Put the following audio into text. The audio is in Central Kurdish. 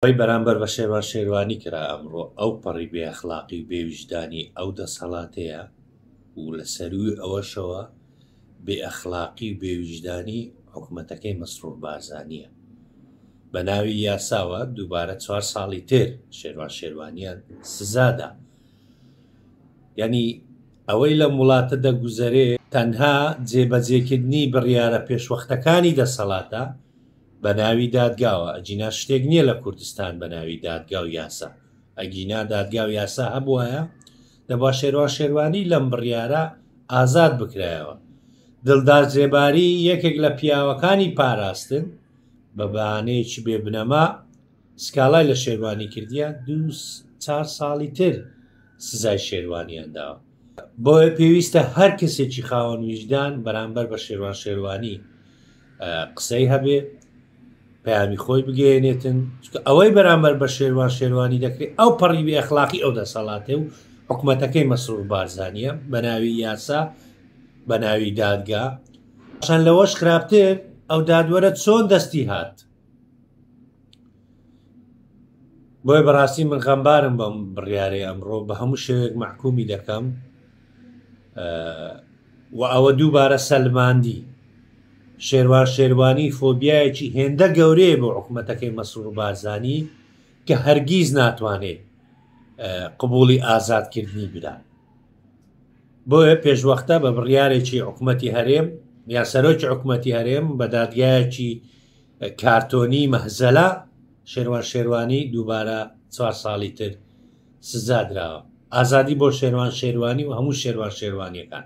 ئەوەی بەرامبەر بە شێروان شێروانی کرا ئەمڕۆ ئەوپەڕی بێ ئەخلاقی و بێ ویژدانی ئەو دەسەڵاتەیە و لە سەرووی ئەوەشەوە بێ ئەخلاقی و بێ ویژدانی حکومەتەکەی مەسرور بارزانیە بە ناوی یاساوە دووبارە چوار ساڵی تر شێروان شێروانیان سزادا یعنی ئەوەی لەم وڵاتە دەگوزەرێ تەنها جێبەجێکردنی بڕیارە پێشوەختەکانی دەسەڵاتە بەناوی دادگاوە ئەگینا شتێک نییە لە کوردستان بەناوی دادگا و یاسا ئەگینا دادگا و یاسا هەبووایە دەبا شێروان شێروانی لەم بڕیارە ئازاد بکرایەوە دڵدار زێباری یەکێک لە پیاوەکانی پاراستن بە بەانەیەکی بێ بنەما سکاڵای لە شێروانی کردیە دو چار ساڵی تر سزای شێروانیان داوە بۆیە پێویستە هەر کەسێکی خاوەن ویژدان بەرامبەر بە شێوان شێوانی قسەی هەبێ پەیامی خۆی بگەێنێتن ئەوەی بەرامبەر بە شێوان شێوانی دەکرێت ئەو پەڕی بێ ئەخلاقی ئەو دەسەڵاتێ و حکوومەتەکەی مەسرور بارزانە بە ناوی یاسا بە ناوی دادگا چەند لەوەش خراپتر ئەو دادوەرە چۆن دەستی هات بۆیە بەڕاستی من غەمبارم بەم بڕیارەی ئەمڕۆ بە هەموو شێوێک محکومی دەکەم و ئەوە دووبارە سەلماندی شێروان شێروانی فۆبیایەکی هێندە گەورەیە بۆ حکوومەتەکەی مەسوور و بارزانی کە هەرگیز ناتوانێت قبولی ئازادکردنی بدات بۆیە پێشوەختە بە بڕیارێکی حکوومەتی هەرێم یا سەرۆکی حکوومەتی هەرێم بە دادگایەکی کارتۆنی مەهزەلا شێروان شێروانی دووبارە چوار ساڵی تر سزادراوە ئازادی بۆ شێروان شێروانی و هەموو شێروان شێروانیەکان